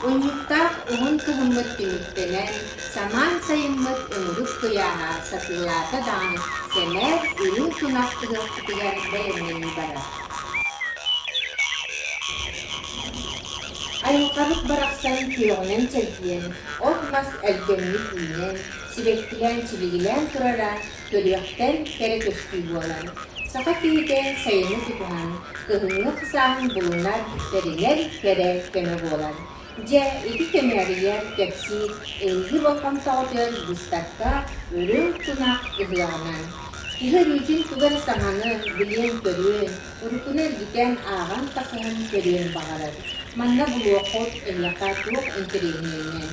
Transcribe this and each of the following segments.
Унньуктаах уһун кыһыммыт түмүктэнэн, самаан сайыммыт ымырык куйааһа сатыылаата даҕаны сэмээр үрүҥ тунах ыһыахпытыгар бэлэмнэнии барар. Айылҕабыт барахсан күөҕүнэн чэлгийэн, от-мас элгэммит үүнэн, сибэккилээн-сибигилээн турара көрүөхтэн кэрэ көстүү буолар. Саха киһитэ сайыны тутуһан, кыһыҥҥы хсааһын булунар, тэринэр кэрэ көмө буолар. Дьэ, ити көмөөрүйэр, кэпсиир Эйиги болҕомтоҕутүгар быыстапка Өрө тунах ыһыаҕынан. Киһи өрүүтүн тугу эрэ сананан, билиэн-көрүөн, уруккуну эргитэн, ааҕан-тахсыһан көрүөн баҕарар. Манна булуоххут, эйиэхэ туох интэриэһинэйинэн,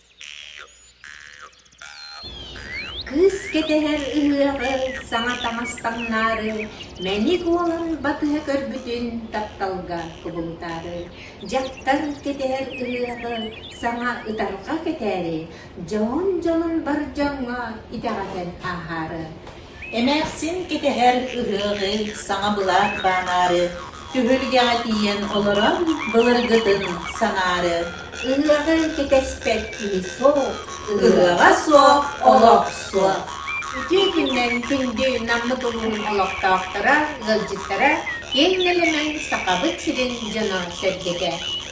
Кыыс кэтэһэр ыһыаҕы саҥа таҥас таҥнаары, мэник уолун батыһа көрбүтүн тапталга кубулутаары, дьахтар кэтэһэр ыһыаҕы саҥа ытарҕа кэтээри, дьоһун дьонун бар дьоҥҥо итэҕэтэн ааһаары. Эмээхсин кэтэһэр ыһыаҕы саҥа былаат баанаары түһүлгэҕэ тиийэн олорон былыргытын санаары. Ыһыаҕы кэтэспэт киһи суох. Ыһыаҕа суох олох суох. Үтүө күннэн күндү Наммыт улууһун олохтоохторо, ыалдьыттара, киэҥ нэлэмэн Сахабыт сирин дьоно-сэргэтэ!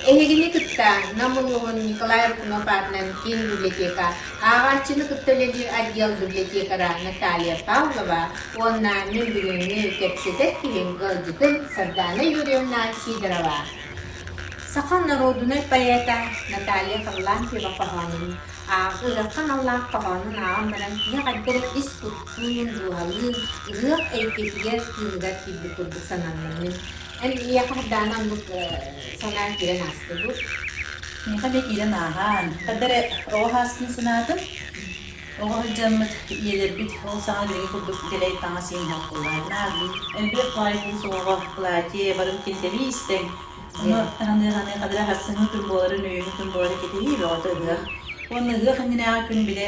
Эһигини кытта Нам улууһун Николай Рыкунов аатынан киин библиотека Ааҕааччыны кытта үлэлиир отдел библиотекара Наталья Павлова уонна нөҥүрүөнү кэпсэтэр киһим ыалдьытым Сардаана Юрьевна Сидорова. Саха норуодунай поэта Наталья Харлампьева хоһоонун ырыахха аналлаах хоһоонун ааҕан баран киһиэхэ эрдэрэ ис куттуун, дууһалыын, ырыах эйгэтигэр, тыыныгар киирбит курдук сананнымын. Эн киһиэхэ хардааны ылбыт санааҥ киирэн ааста дуу? Миэхэ да киирэн ааһаан, хата эрэ оҕо сааспын санаатым. Оҕо сылдьаммыт ийэлэрбит ол саҥа билиҥҥи курдук дэлэй таҥас иһин хаппыллаат, нааргын, элбэх баай куус оҕоҕо платье, барыбыт килтэлии истэҥ. Ону таһыныы-ханыыха бары ахсыҥҥы күн буоларын, өйүҥҥү күн буоларын кэтэһии бөҕөтө ыһыах. Уонна ыһыах иннинээҕи күн били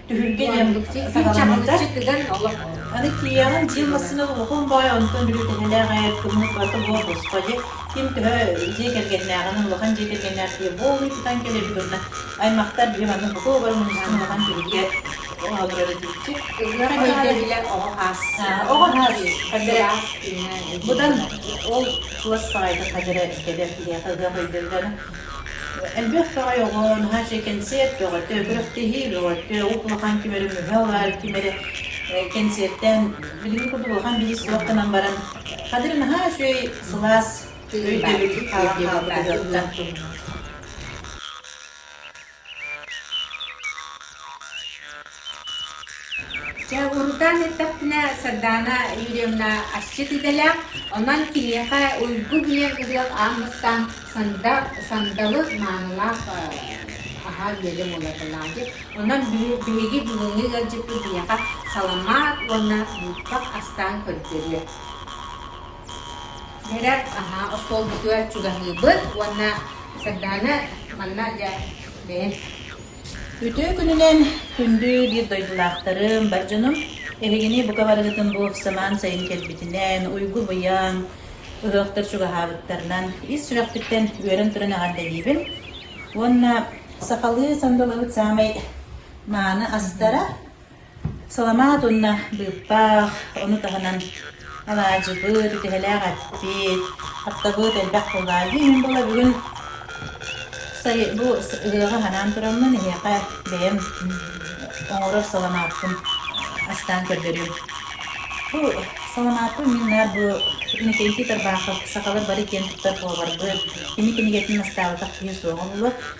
Түһүлгэ диэн саҕаламмыта. Аны тиийэҕин дьиэ массыына улахан баай онтон били тэҥэлээх айар кыммыт барыта буор босхо дьэ ким төһө дьиэ кэргэннээҕинэн улахан дьиэ кэргэннээх киһи буолуй тутан кэлэбит уонна аймахтар дьиэ манна бутуогар муннуктан улахан түһүлгэ олоро турара диэччи. Оҕо хаас хадара будан ол туос саҕайта хадара кэлэр киһиэхэ ыһыах өйдөллөнө Элбэх тоҕой оҕо наһаа чэй кэнсиэр көҕөтө күрэхтэһии көҕөтө от улахан ким эрэ мүһэ ылар ким эрэ кэнсиэртээн билиҥҥи курдук улахан бизнес суохтанан баран Кадыр наһаа үчүгэй сылаас өйдөбүл хаалан хаалбытыгар Чэ, урутаан эттэхпинэ, Сардаана Юрьевна асчыт идэлээх, онон киниэхэ уйгу гыйан ыһыах аан бастаан санда, сандалы маанылаах аһаан биэрдим буолатылаатык. Онон биһиги бүгүҥҥү ыалдьыппыт биһиэхэ саламаат уонна буукпах астаан көрдөрүө. Бэрт, аһаа, остуолбутугар чугаһыыбыт уонна Сардаана манна дьэ бэйэм Үтүө күнүнэн күндү биир дойдулаахтарым, бар дьонум. Эһигини бука барыгытын бу самаан сайын кэлбитинэн, уйгу-быйаҥ, ыһыахтар чугаһаабыттарынан ис сүрэхпиттэн үөрэн туран эҕэрдэлиибин. Уонна сахалыы сандалыбыт саамай мааны астара Саламаат уонна быыппаах, ону таһынан алаадьыбыт, үтүһэлээх эппит, аптабыт элбэх тыллаалдьы иһин буола бүгүн сайы бу ыһыаҕы ханаан тураммын эһиэхэ бэйэм оҥорор саламааппын астаан көрдөрүм. Бу саламааппын мин наар бу Иннокентий Тарбахов «Сахалар бары киэн туттар поварбыт, кини кинигэтин настаабатах киһи суоҕа буолуо»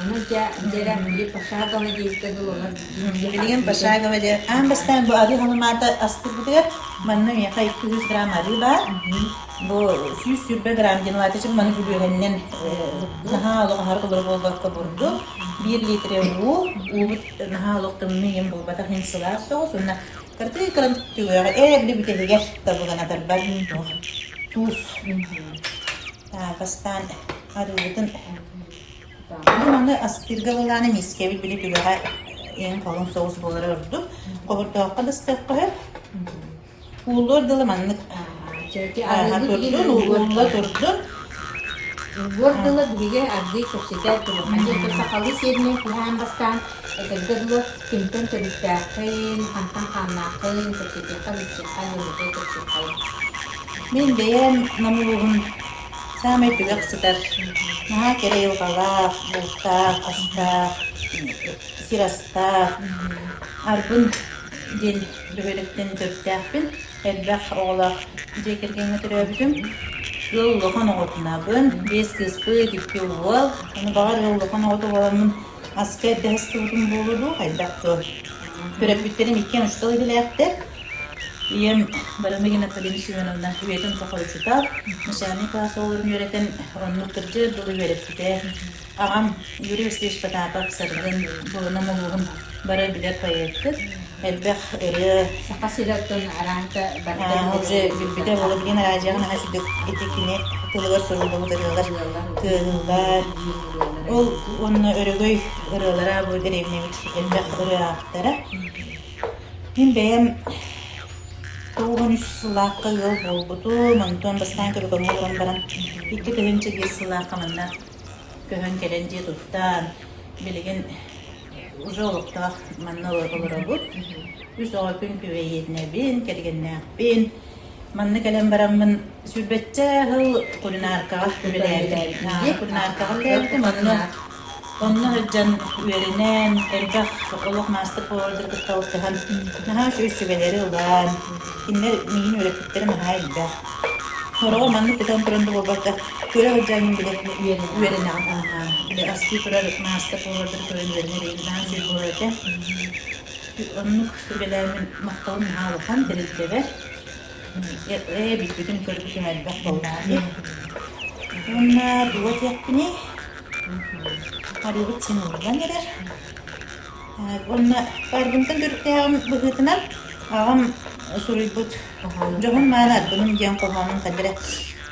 Ону дьэ, дьэрэ, биир пошаговый диэккэ дылы олор дьиҥнээх. Билигин пошаговый диэн аан бастаан бу арыы ханымаата астырбытыгар манна миэхэ икки жүз грамм арыы баар. Бу сүүс сүүрбэ грамм диэн улаата чим маны үбүһэннэн наһаа олоҕоһар олор буолбакка бурду. Биир литре уу, уубут наһаа олох тымныы им булбатах ин сылаас соҕус уонна кыртыы кыран түгөҕө ээбли бүтэһигэр табыганатарбар туус. Так, астан арыыбытын Мин ону астыырга былааны миискэбит били түгэҕэ иһин-халыҥ соҕус буолара ордук. Холбоотооххо да ыстыахха сөп. Ууллуор дылы маннык ааһа турдун, уулла турдун. Ууллуор дылы биһиги ардыы кэпсэтэр кылаханьы этэ сахалыы сиэринэн киһээн бастаан этэргэ дылы кимтэн төрүттээххин, хантан хааннааххын, кэпсэтиэххэ, билсиэххэ, нөҥүтэ кэпсиэххэ. Мин бэйэм номул ууһун саамай түгэх сытар наһаа кэрэ айылҕалаах бултаах астаах сир астаах арбын диэн бөһүөлэктэн төрүттээхпин элбэх оҕолоох дьиэ кэргэҥҥэ төрөөбүтүм ыал улахан оҕотунаабын биэс кыыспыт икки уол ону баҕар ыал улахан оҕото буоламмын Аска эрдэһистыбытым буолуо дуо, хайдах дуо? Төрөппүттэрим иккиэн учуутал идэлээхтэр. Ийэм Барамыгин Наталина Семеновна үйэтин тухары учуутал, начальнай кылаас оҕолорун үөрэтэн, оннук кырдьыар дылы үөрэппитэ. Аҕам Юрий Васильевич Потапов Саргын, Булунам улууһун бары билэр поэппыт. Элбэх ырыа. Саха сиртэн аранта бары билбитэ Владимир Араджиан наһаа сидик ити кини тылыгар суруллубут ырыалар кыыллар ол уонна өрөгөй ырыалара бу дэриэбинэбит элбэх ырыа ааптара мин бэйэм тоҕон үс сыллаахха ыал буолбутум онтон бастаан көрүкөҥҥө туран баран икки тыһыынча биир сыллаахха манна көһөн кэлэн дьиэ туттан билигин Уже олохтоох манна олоробут. Үс оҕо күн күбэйиэтинэбин, кэргэннээхпин. Манна кэлэн бараммын сүүрбэччэ сыл кулинаркаҕа үлэлээбитим. Кулинаркаҕа үлэлээбитим. Онно онно сылдьан үөрэнэн, элбэх олох маастар-повардар кытта алтыһан, наһаа үс сүбэлэри ылан, кинилэр миигин үөрэппиттэрэ наһаа элбэх. Сороҕор маннык кутан туран да буолбакка, күрэх дьаҥын бile үөрэнэҕин аһаҕаан, били астыы турар мааска туолардар көрөн үөрэнэр ыйытаан биир буолар этэ. Оннук сүбэлээммин махталым наһаа улахан, тэрилтэбэр. Ээ, билбитим, көрбүтүм элбэх буоллаҕа дии. Уонна дуо диэхпиний? Арыыбыт син ыллан эрэр. Уонна барбынтан төрүттээҕим быһыытынан аҕам суруйбут дьоһун мааны арбыным диэн хоһоонун кадыры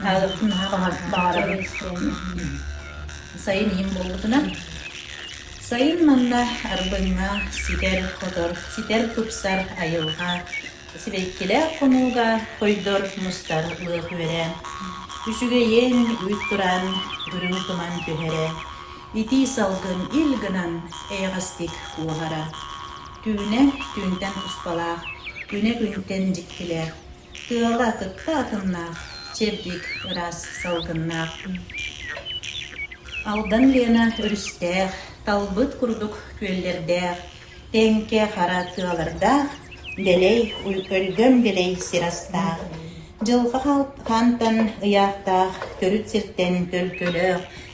аҕалыбытым наһаа баҕарабын. Сайын иһин буолбутунан сайын манна арбыҥҥа ситэр хотор, ситэр тупсар айылҕа сибэккилээх хонууга хойдор мустар лыах үөрэ, үчүгэйин, үүт тураан, үрүҥ туман түһэрэ, Итии салгын ил гынан эйэҕэстик куоһара. Түүнэ түүнтэн туспалаах, күнэ күнтэн дьиктилээх, тыала кытта атыннаах, чэбдик, ыраас салгыннаах. Алдан Лена өрүстээх, талбыт курдук күөллэрдээх, тэҥкэ хара тыалардаах, дэлэй, өлгөм дэлэй сир астаах, дьылҕа хантан ыйаахтаах төрүт сиртэн төлкөлөөх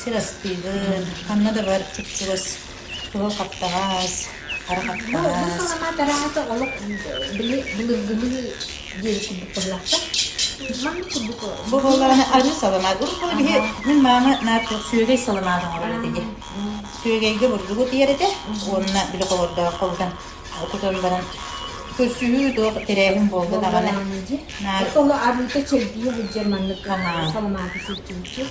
сир астыыбын, ханна да бар чупчугас суһал хаптаҕас, хара хаптаҕас. Бу саламаат араата олох били былыргыны диэри курдук быһылахтар. Маннык курдук бу буоллаҕына атын саламаат. Урут була биһи мин маама наар çox сүөгэй саламаат оҥорор этэ дии. Сүөгэйгэ бурдугу тиэр этэ уонна били холордоох холутан кутан баран көрсүһүү тоох тэрээһин буолда даҕаны. Наар Ол арыыта чэргийэ сылдьар маннык саламааты сылдьыбыппыт.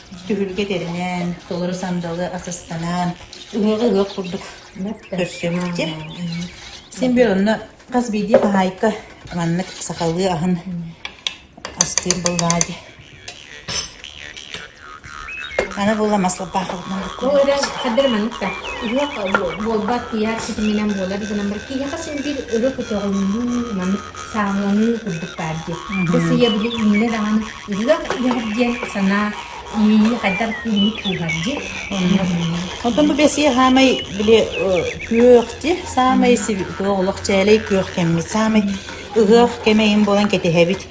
түһүлгэ тэринэн, толору сандалы асыстанан, ыһыаҕы ыһыах курдук көрсүбүттэр. Син биир онно хас биирдии хаһаайка маннык сахалыы аһын астыыр буллаадьы. Аны була маслопаахылытынан Ол эрэ хаддары маннык та ыһыах буолбат тиһэр ситиминэн буолар гынан бар киһиэхэ син биир ыры көтөҕүлүү маннык сааһыланыы курдук баар дии. Бу сыйа били иннэ даҕаны Ыһыах иһэбит диэн санаа иэйии хайдах киэҥник тууһардый онно билинэр. Оттон бу бэсиэ саамай били күөх ти саамай туох олох чээлэй күөх кэммит саамай ыһыах кэмэйин буолан кэтиһэбит.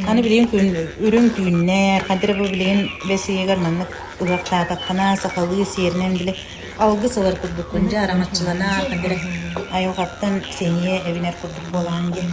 Аны билигин күн үрүҥ түүннэ хадра бу билигин бэсиэгэр маннык ыһыахтаатаххына сахалыы сиэринэн били алгыс ылар курдуккун дьэ арамаччыланар хадра айылҕаттан сэниэ эбинэр курдук буолаан диэн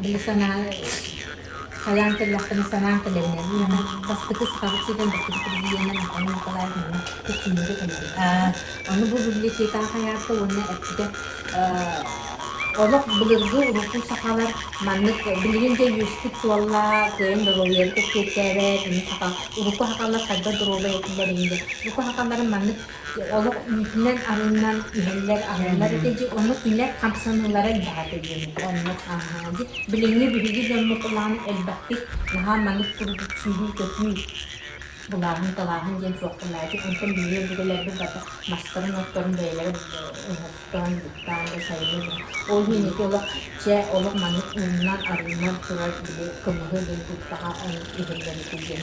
били санаа хайаан кэллэхпинэ санаан кэлэмнэн бастакы сахабыт сирин бастакы президенин Анна Николаевна күссүннөрө кэллибит. Аны бу библиотекаҕа хайаата уонна эппитэ олох былыргы урукку сахалар маннык билигин дэ үөспүт суолла кыайын доруобуйаны кэпсиэттээбэт аны саха урукку сахалар хайдах доруобай этилэр инде урукку сахаларын маннык Олох үүтүнэн-арынынан иһэллэр, аһыллар этэ дьэ, ону күнэр хамсаныылара элбэҕэ диэни оннук ааһаҕын дии. Билиҥҥи биһиги дьоммут былаана элбэхтик наһаа маннык курдук сүүрүү-көтүү, былааһын-талааһын диэн суохтанааччы, онтон биһиги өбүгэлэрбит барыта мастарын-отторун бэйэлэрэ уһуктан, буктаан да, сайыныы да. Ол иһин ити олох чэ, олох маннык ууннан-арыынан турар били кымыһы булбуттаҕа иһиллэр этэ диэн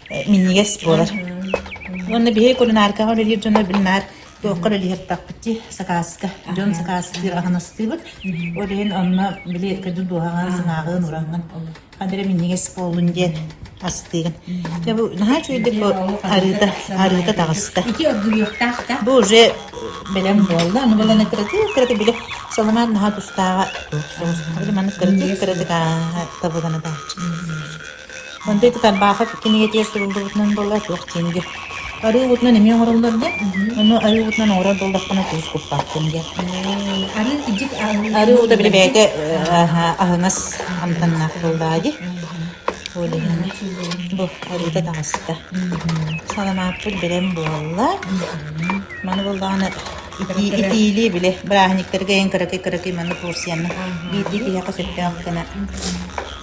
минньигэс буолар. Уонна биһиги кулинаркаҕа үлэлиир дьоно били наар туохха үлэлиһиэхтээхпит дии, сакааска. Дьон сакаастыыр, аһынастыыбыт. Ол иһин онно били көдьүүл дуоһаҕа сыҥааҕын, ураҥҥын. Ханна эрэ минньигэс буоллун диэн астыыгын. Дьэ бу наһаа үчүгэйдик бу арыыта арыыта таҕыста. Ити оргуйуохтаах да. Бу уже бэлэм буолла. Аны баланы кыратык кыратык били саламаан наһаа тустааҕа. Били маннык кыратык кыратык табыганы тааччы. Мандай Кытарбаахап кинигэтигэр суруллубутунан буолла туох диэҥҥэ. Арыыбытынан эмиэ оҥороллор да, ону арыыбытынан оҥорор буоллаххына куус куппаах кинигэ. Арыы кидьик Арыыбыта били бэйэтэ аһа аһыҥас амтаннаах тыллаах дии. Ол иһин бу арыыта таҕыста. Саламааппыт бэлэм буолла. Маны буоллаҕына итии итиилии били бырааһынньыктары кэйэн кыракый кыракый маны туурсуйанна. Биирдии киһиэхэ сөптөөх гына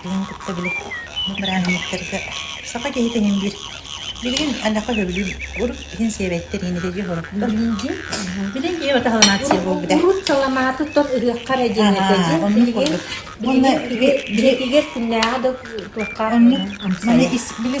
Кинини кытта били бу бырааһынньыктарга саха киһитэ мин биир билигин Анахха сөбүлүүр урут иһин сиэбэттэр иинилэйдии хорохтор. Билигин киһи бата халанаация буолбута. Урут саламаатыттан ырыахха эрэ диэн этэ. Билигин билигин бигэр күннээҕи да туохха манна ис били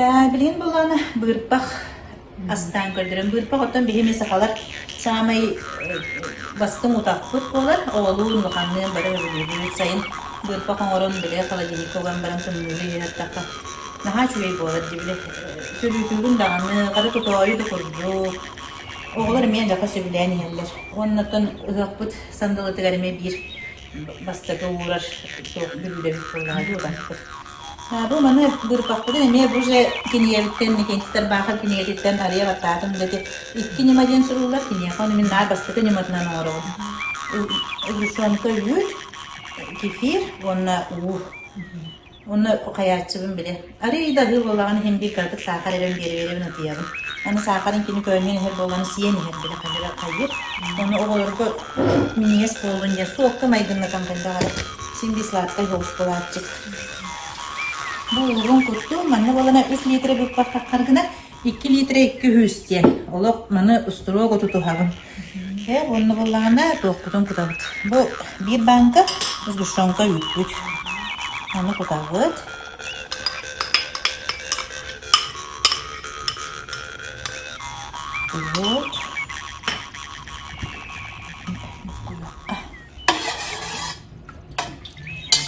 Ээ, билигин булан быырпах Астаан көрдөрөн быырпах, оттон биһи эмиэ сахалар саамай бастыҥ утахпыт буолар, оҕолуун, улаханныын бары өрөбүллүүбүт сайын быырпах оҥорон, били холодильникка уган баран тымныыга иһиттахха наһаа үчүгэй буолар дии били сөрүүтүүрүн даҕаны, хара тутоойу да курдук. Оҕолор эмиэ элбэххэ сөбүлээн иһэллэр. Уонна оттон ыһыахпыт сандалытыгар эмиэ биир бастакы уурар бүлүүдэбит буоллаҕа дии утахпыт. Бу маны быырпахпытын эмиэ бу дьэ кинигэбиттэн, Никититтэр Баахыр кинигэтиттэн арыйа баттаатым үлэти икки ньыма диэн сурууллар. Киниэхэ ону мин наар бастакы ньыматынан оҥоробун. Угушонка үһүс, кефир уонна уу. Уонна хайааччыбын били. Арыый да аһыы буоллаҕына иһин биир кыратык саахар эрэн биэри биэрэбин утуйабын. Аны саахарын кини көөнньөн иһэр буоллаҕына сиэн иһэр били хайдыра хайыыр. Ону оҕолорго миниэс буолун диэн суокка майгыннатан бэллэ аҕай. Син бии сладкай болс буолааччыт. Буолуоҕуҥ курдук, манна буолана үс лиитирэ быыппаттахха гына икки лиитирэ икки үһүс диэн. Олох маны устуруок оту туһабын. Чэ, уонна буоллаҕына туохпутун кутабыт. Бу биир бааҥка сгущенка үүппүт. Ону кутабыт. Вот.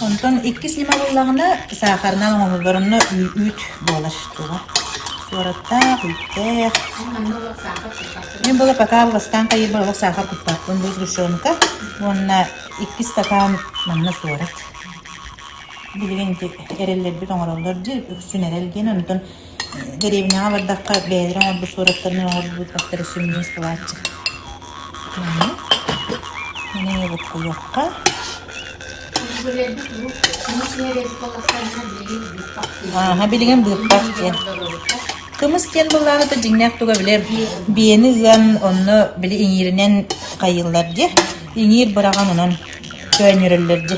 Онтон иккис ньыма буллаҕына саахарынан оҥоһуллар, онно үүт буолар туга. Туораттаах, үүттээх. Мин буола пока алҕастаан хайыырбар олох саахар куппаппын бу сгущенка уонна иккис сатаан манна суорат. Билигин ити эрэллэрбит оҥороллор дии, үксүн эрэл диэн, онтон Дэриэбинэҕэ бардахха бэйэлэрэ оҥорбут суораттарын оҥорбутахтара сүмнүүр сылааччы. Манна мин эйэбиккэлиэххэ Ааһа билигин быыппах диэн. Кымыс диэн былааһыта дьиҥнээх туга билэр биэни ыан онно били иҥииринэн хайыыллар дьэ иҥиир быраҕан унан көөнньөрөллөр дьэ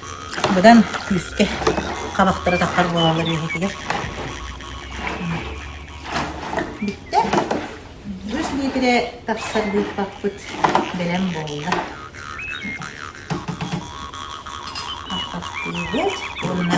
Быдан күүскэ хабахтары тахсар буолаллар үөһэтигэр. Бүттэ. Үс лиитирэ тахсар быыппаппыт бэлэм буолла. Ахтыыбыт уонна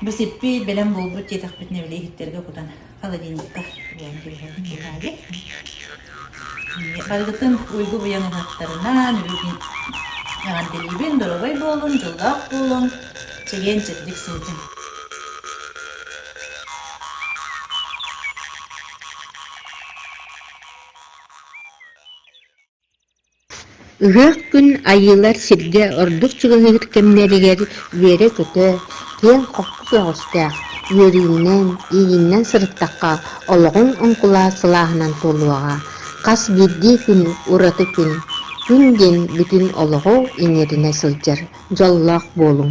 Бу сиппий бэлэм буолбут диэтэхпитинэ били иһиттэргэ кутан холодильниктар булан түһэбит быһаары. Барыгытын уйгу буйан ылаттарынан бүгүн эҕэрдэлиибин, доруобай буолун, дьоллоох буолун, чэгиэн чэбдик сылдьын. Ыһыах күн айыылар сиргэ ордук чугаһыыр кэмнэригэр үөрэ-көтө, киэҥ-хоппус өҕөстөөх, үөрүүнэн, иининэн сырыттахха олоҕуҥ оҥкулаат сылааһынан туолуоҕа. Хас биирдии күн ураты күн. Күн диэн бүтүн олоҕу иҥэринэ сылдьар дьоллоох буолуҥ.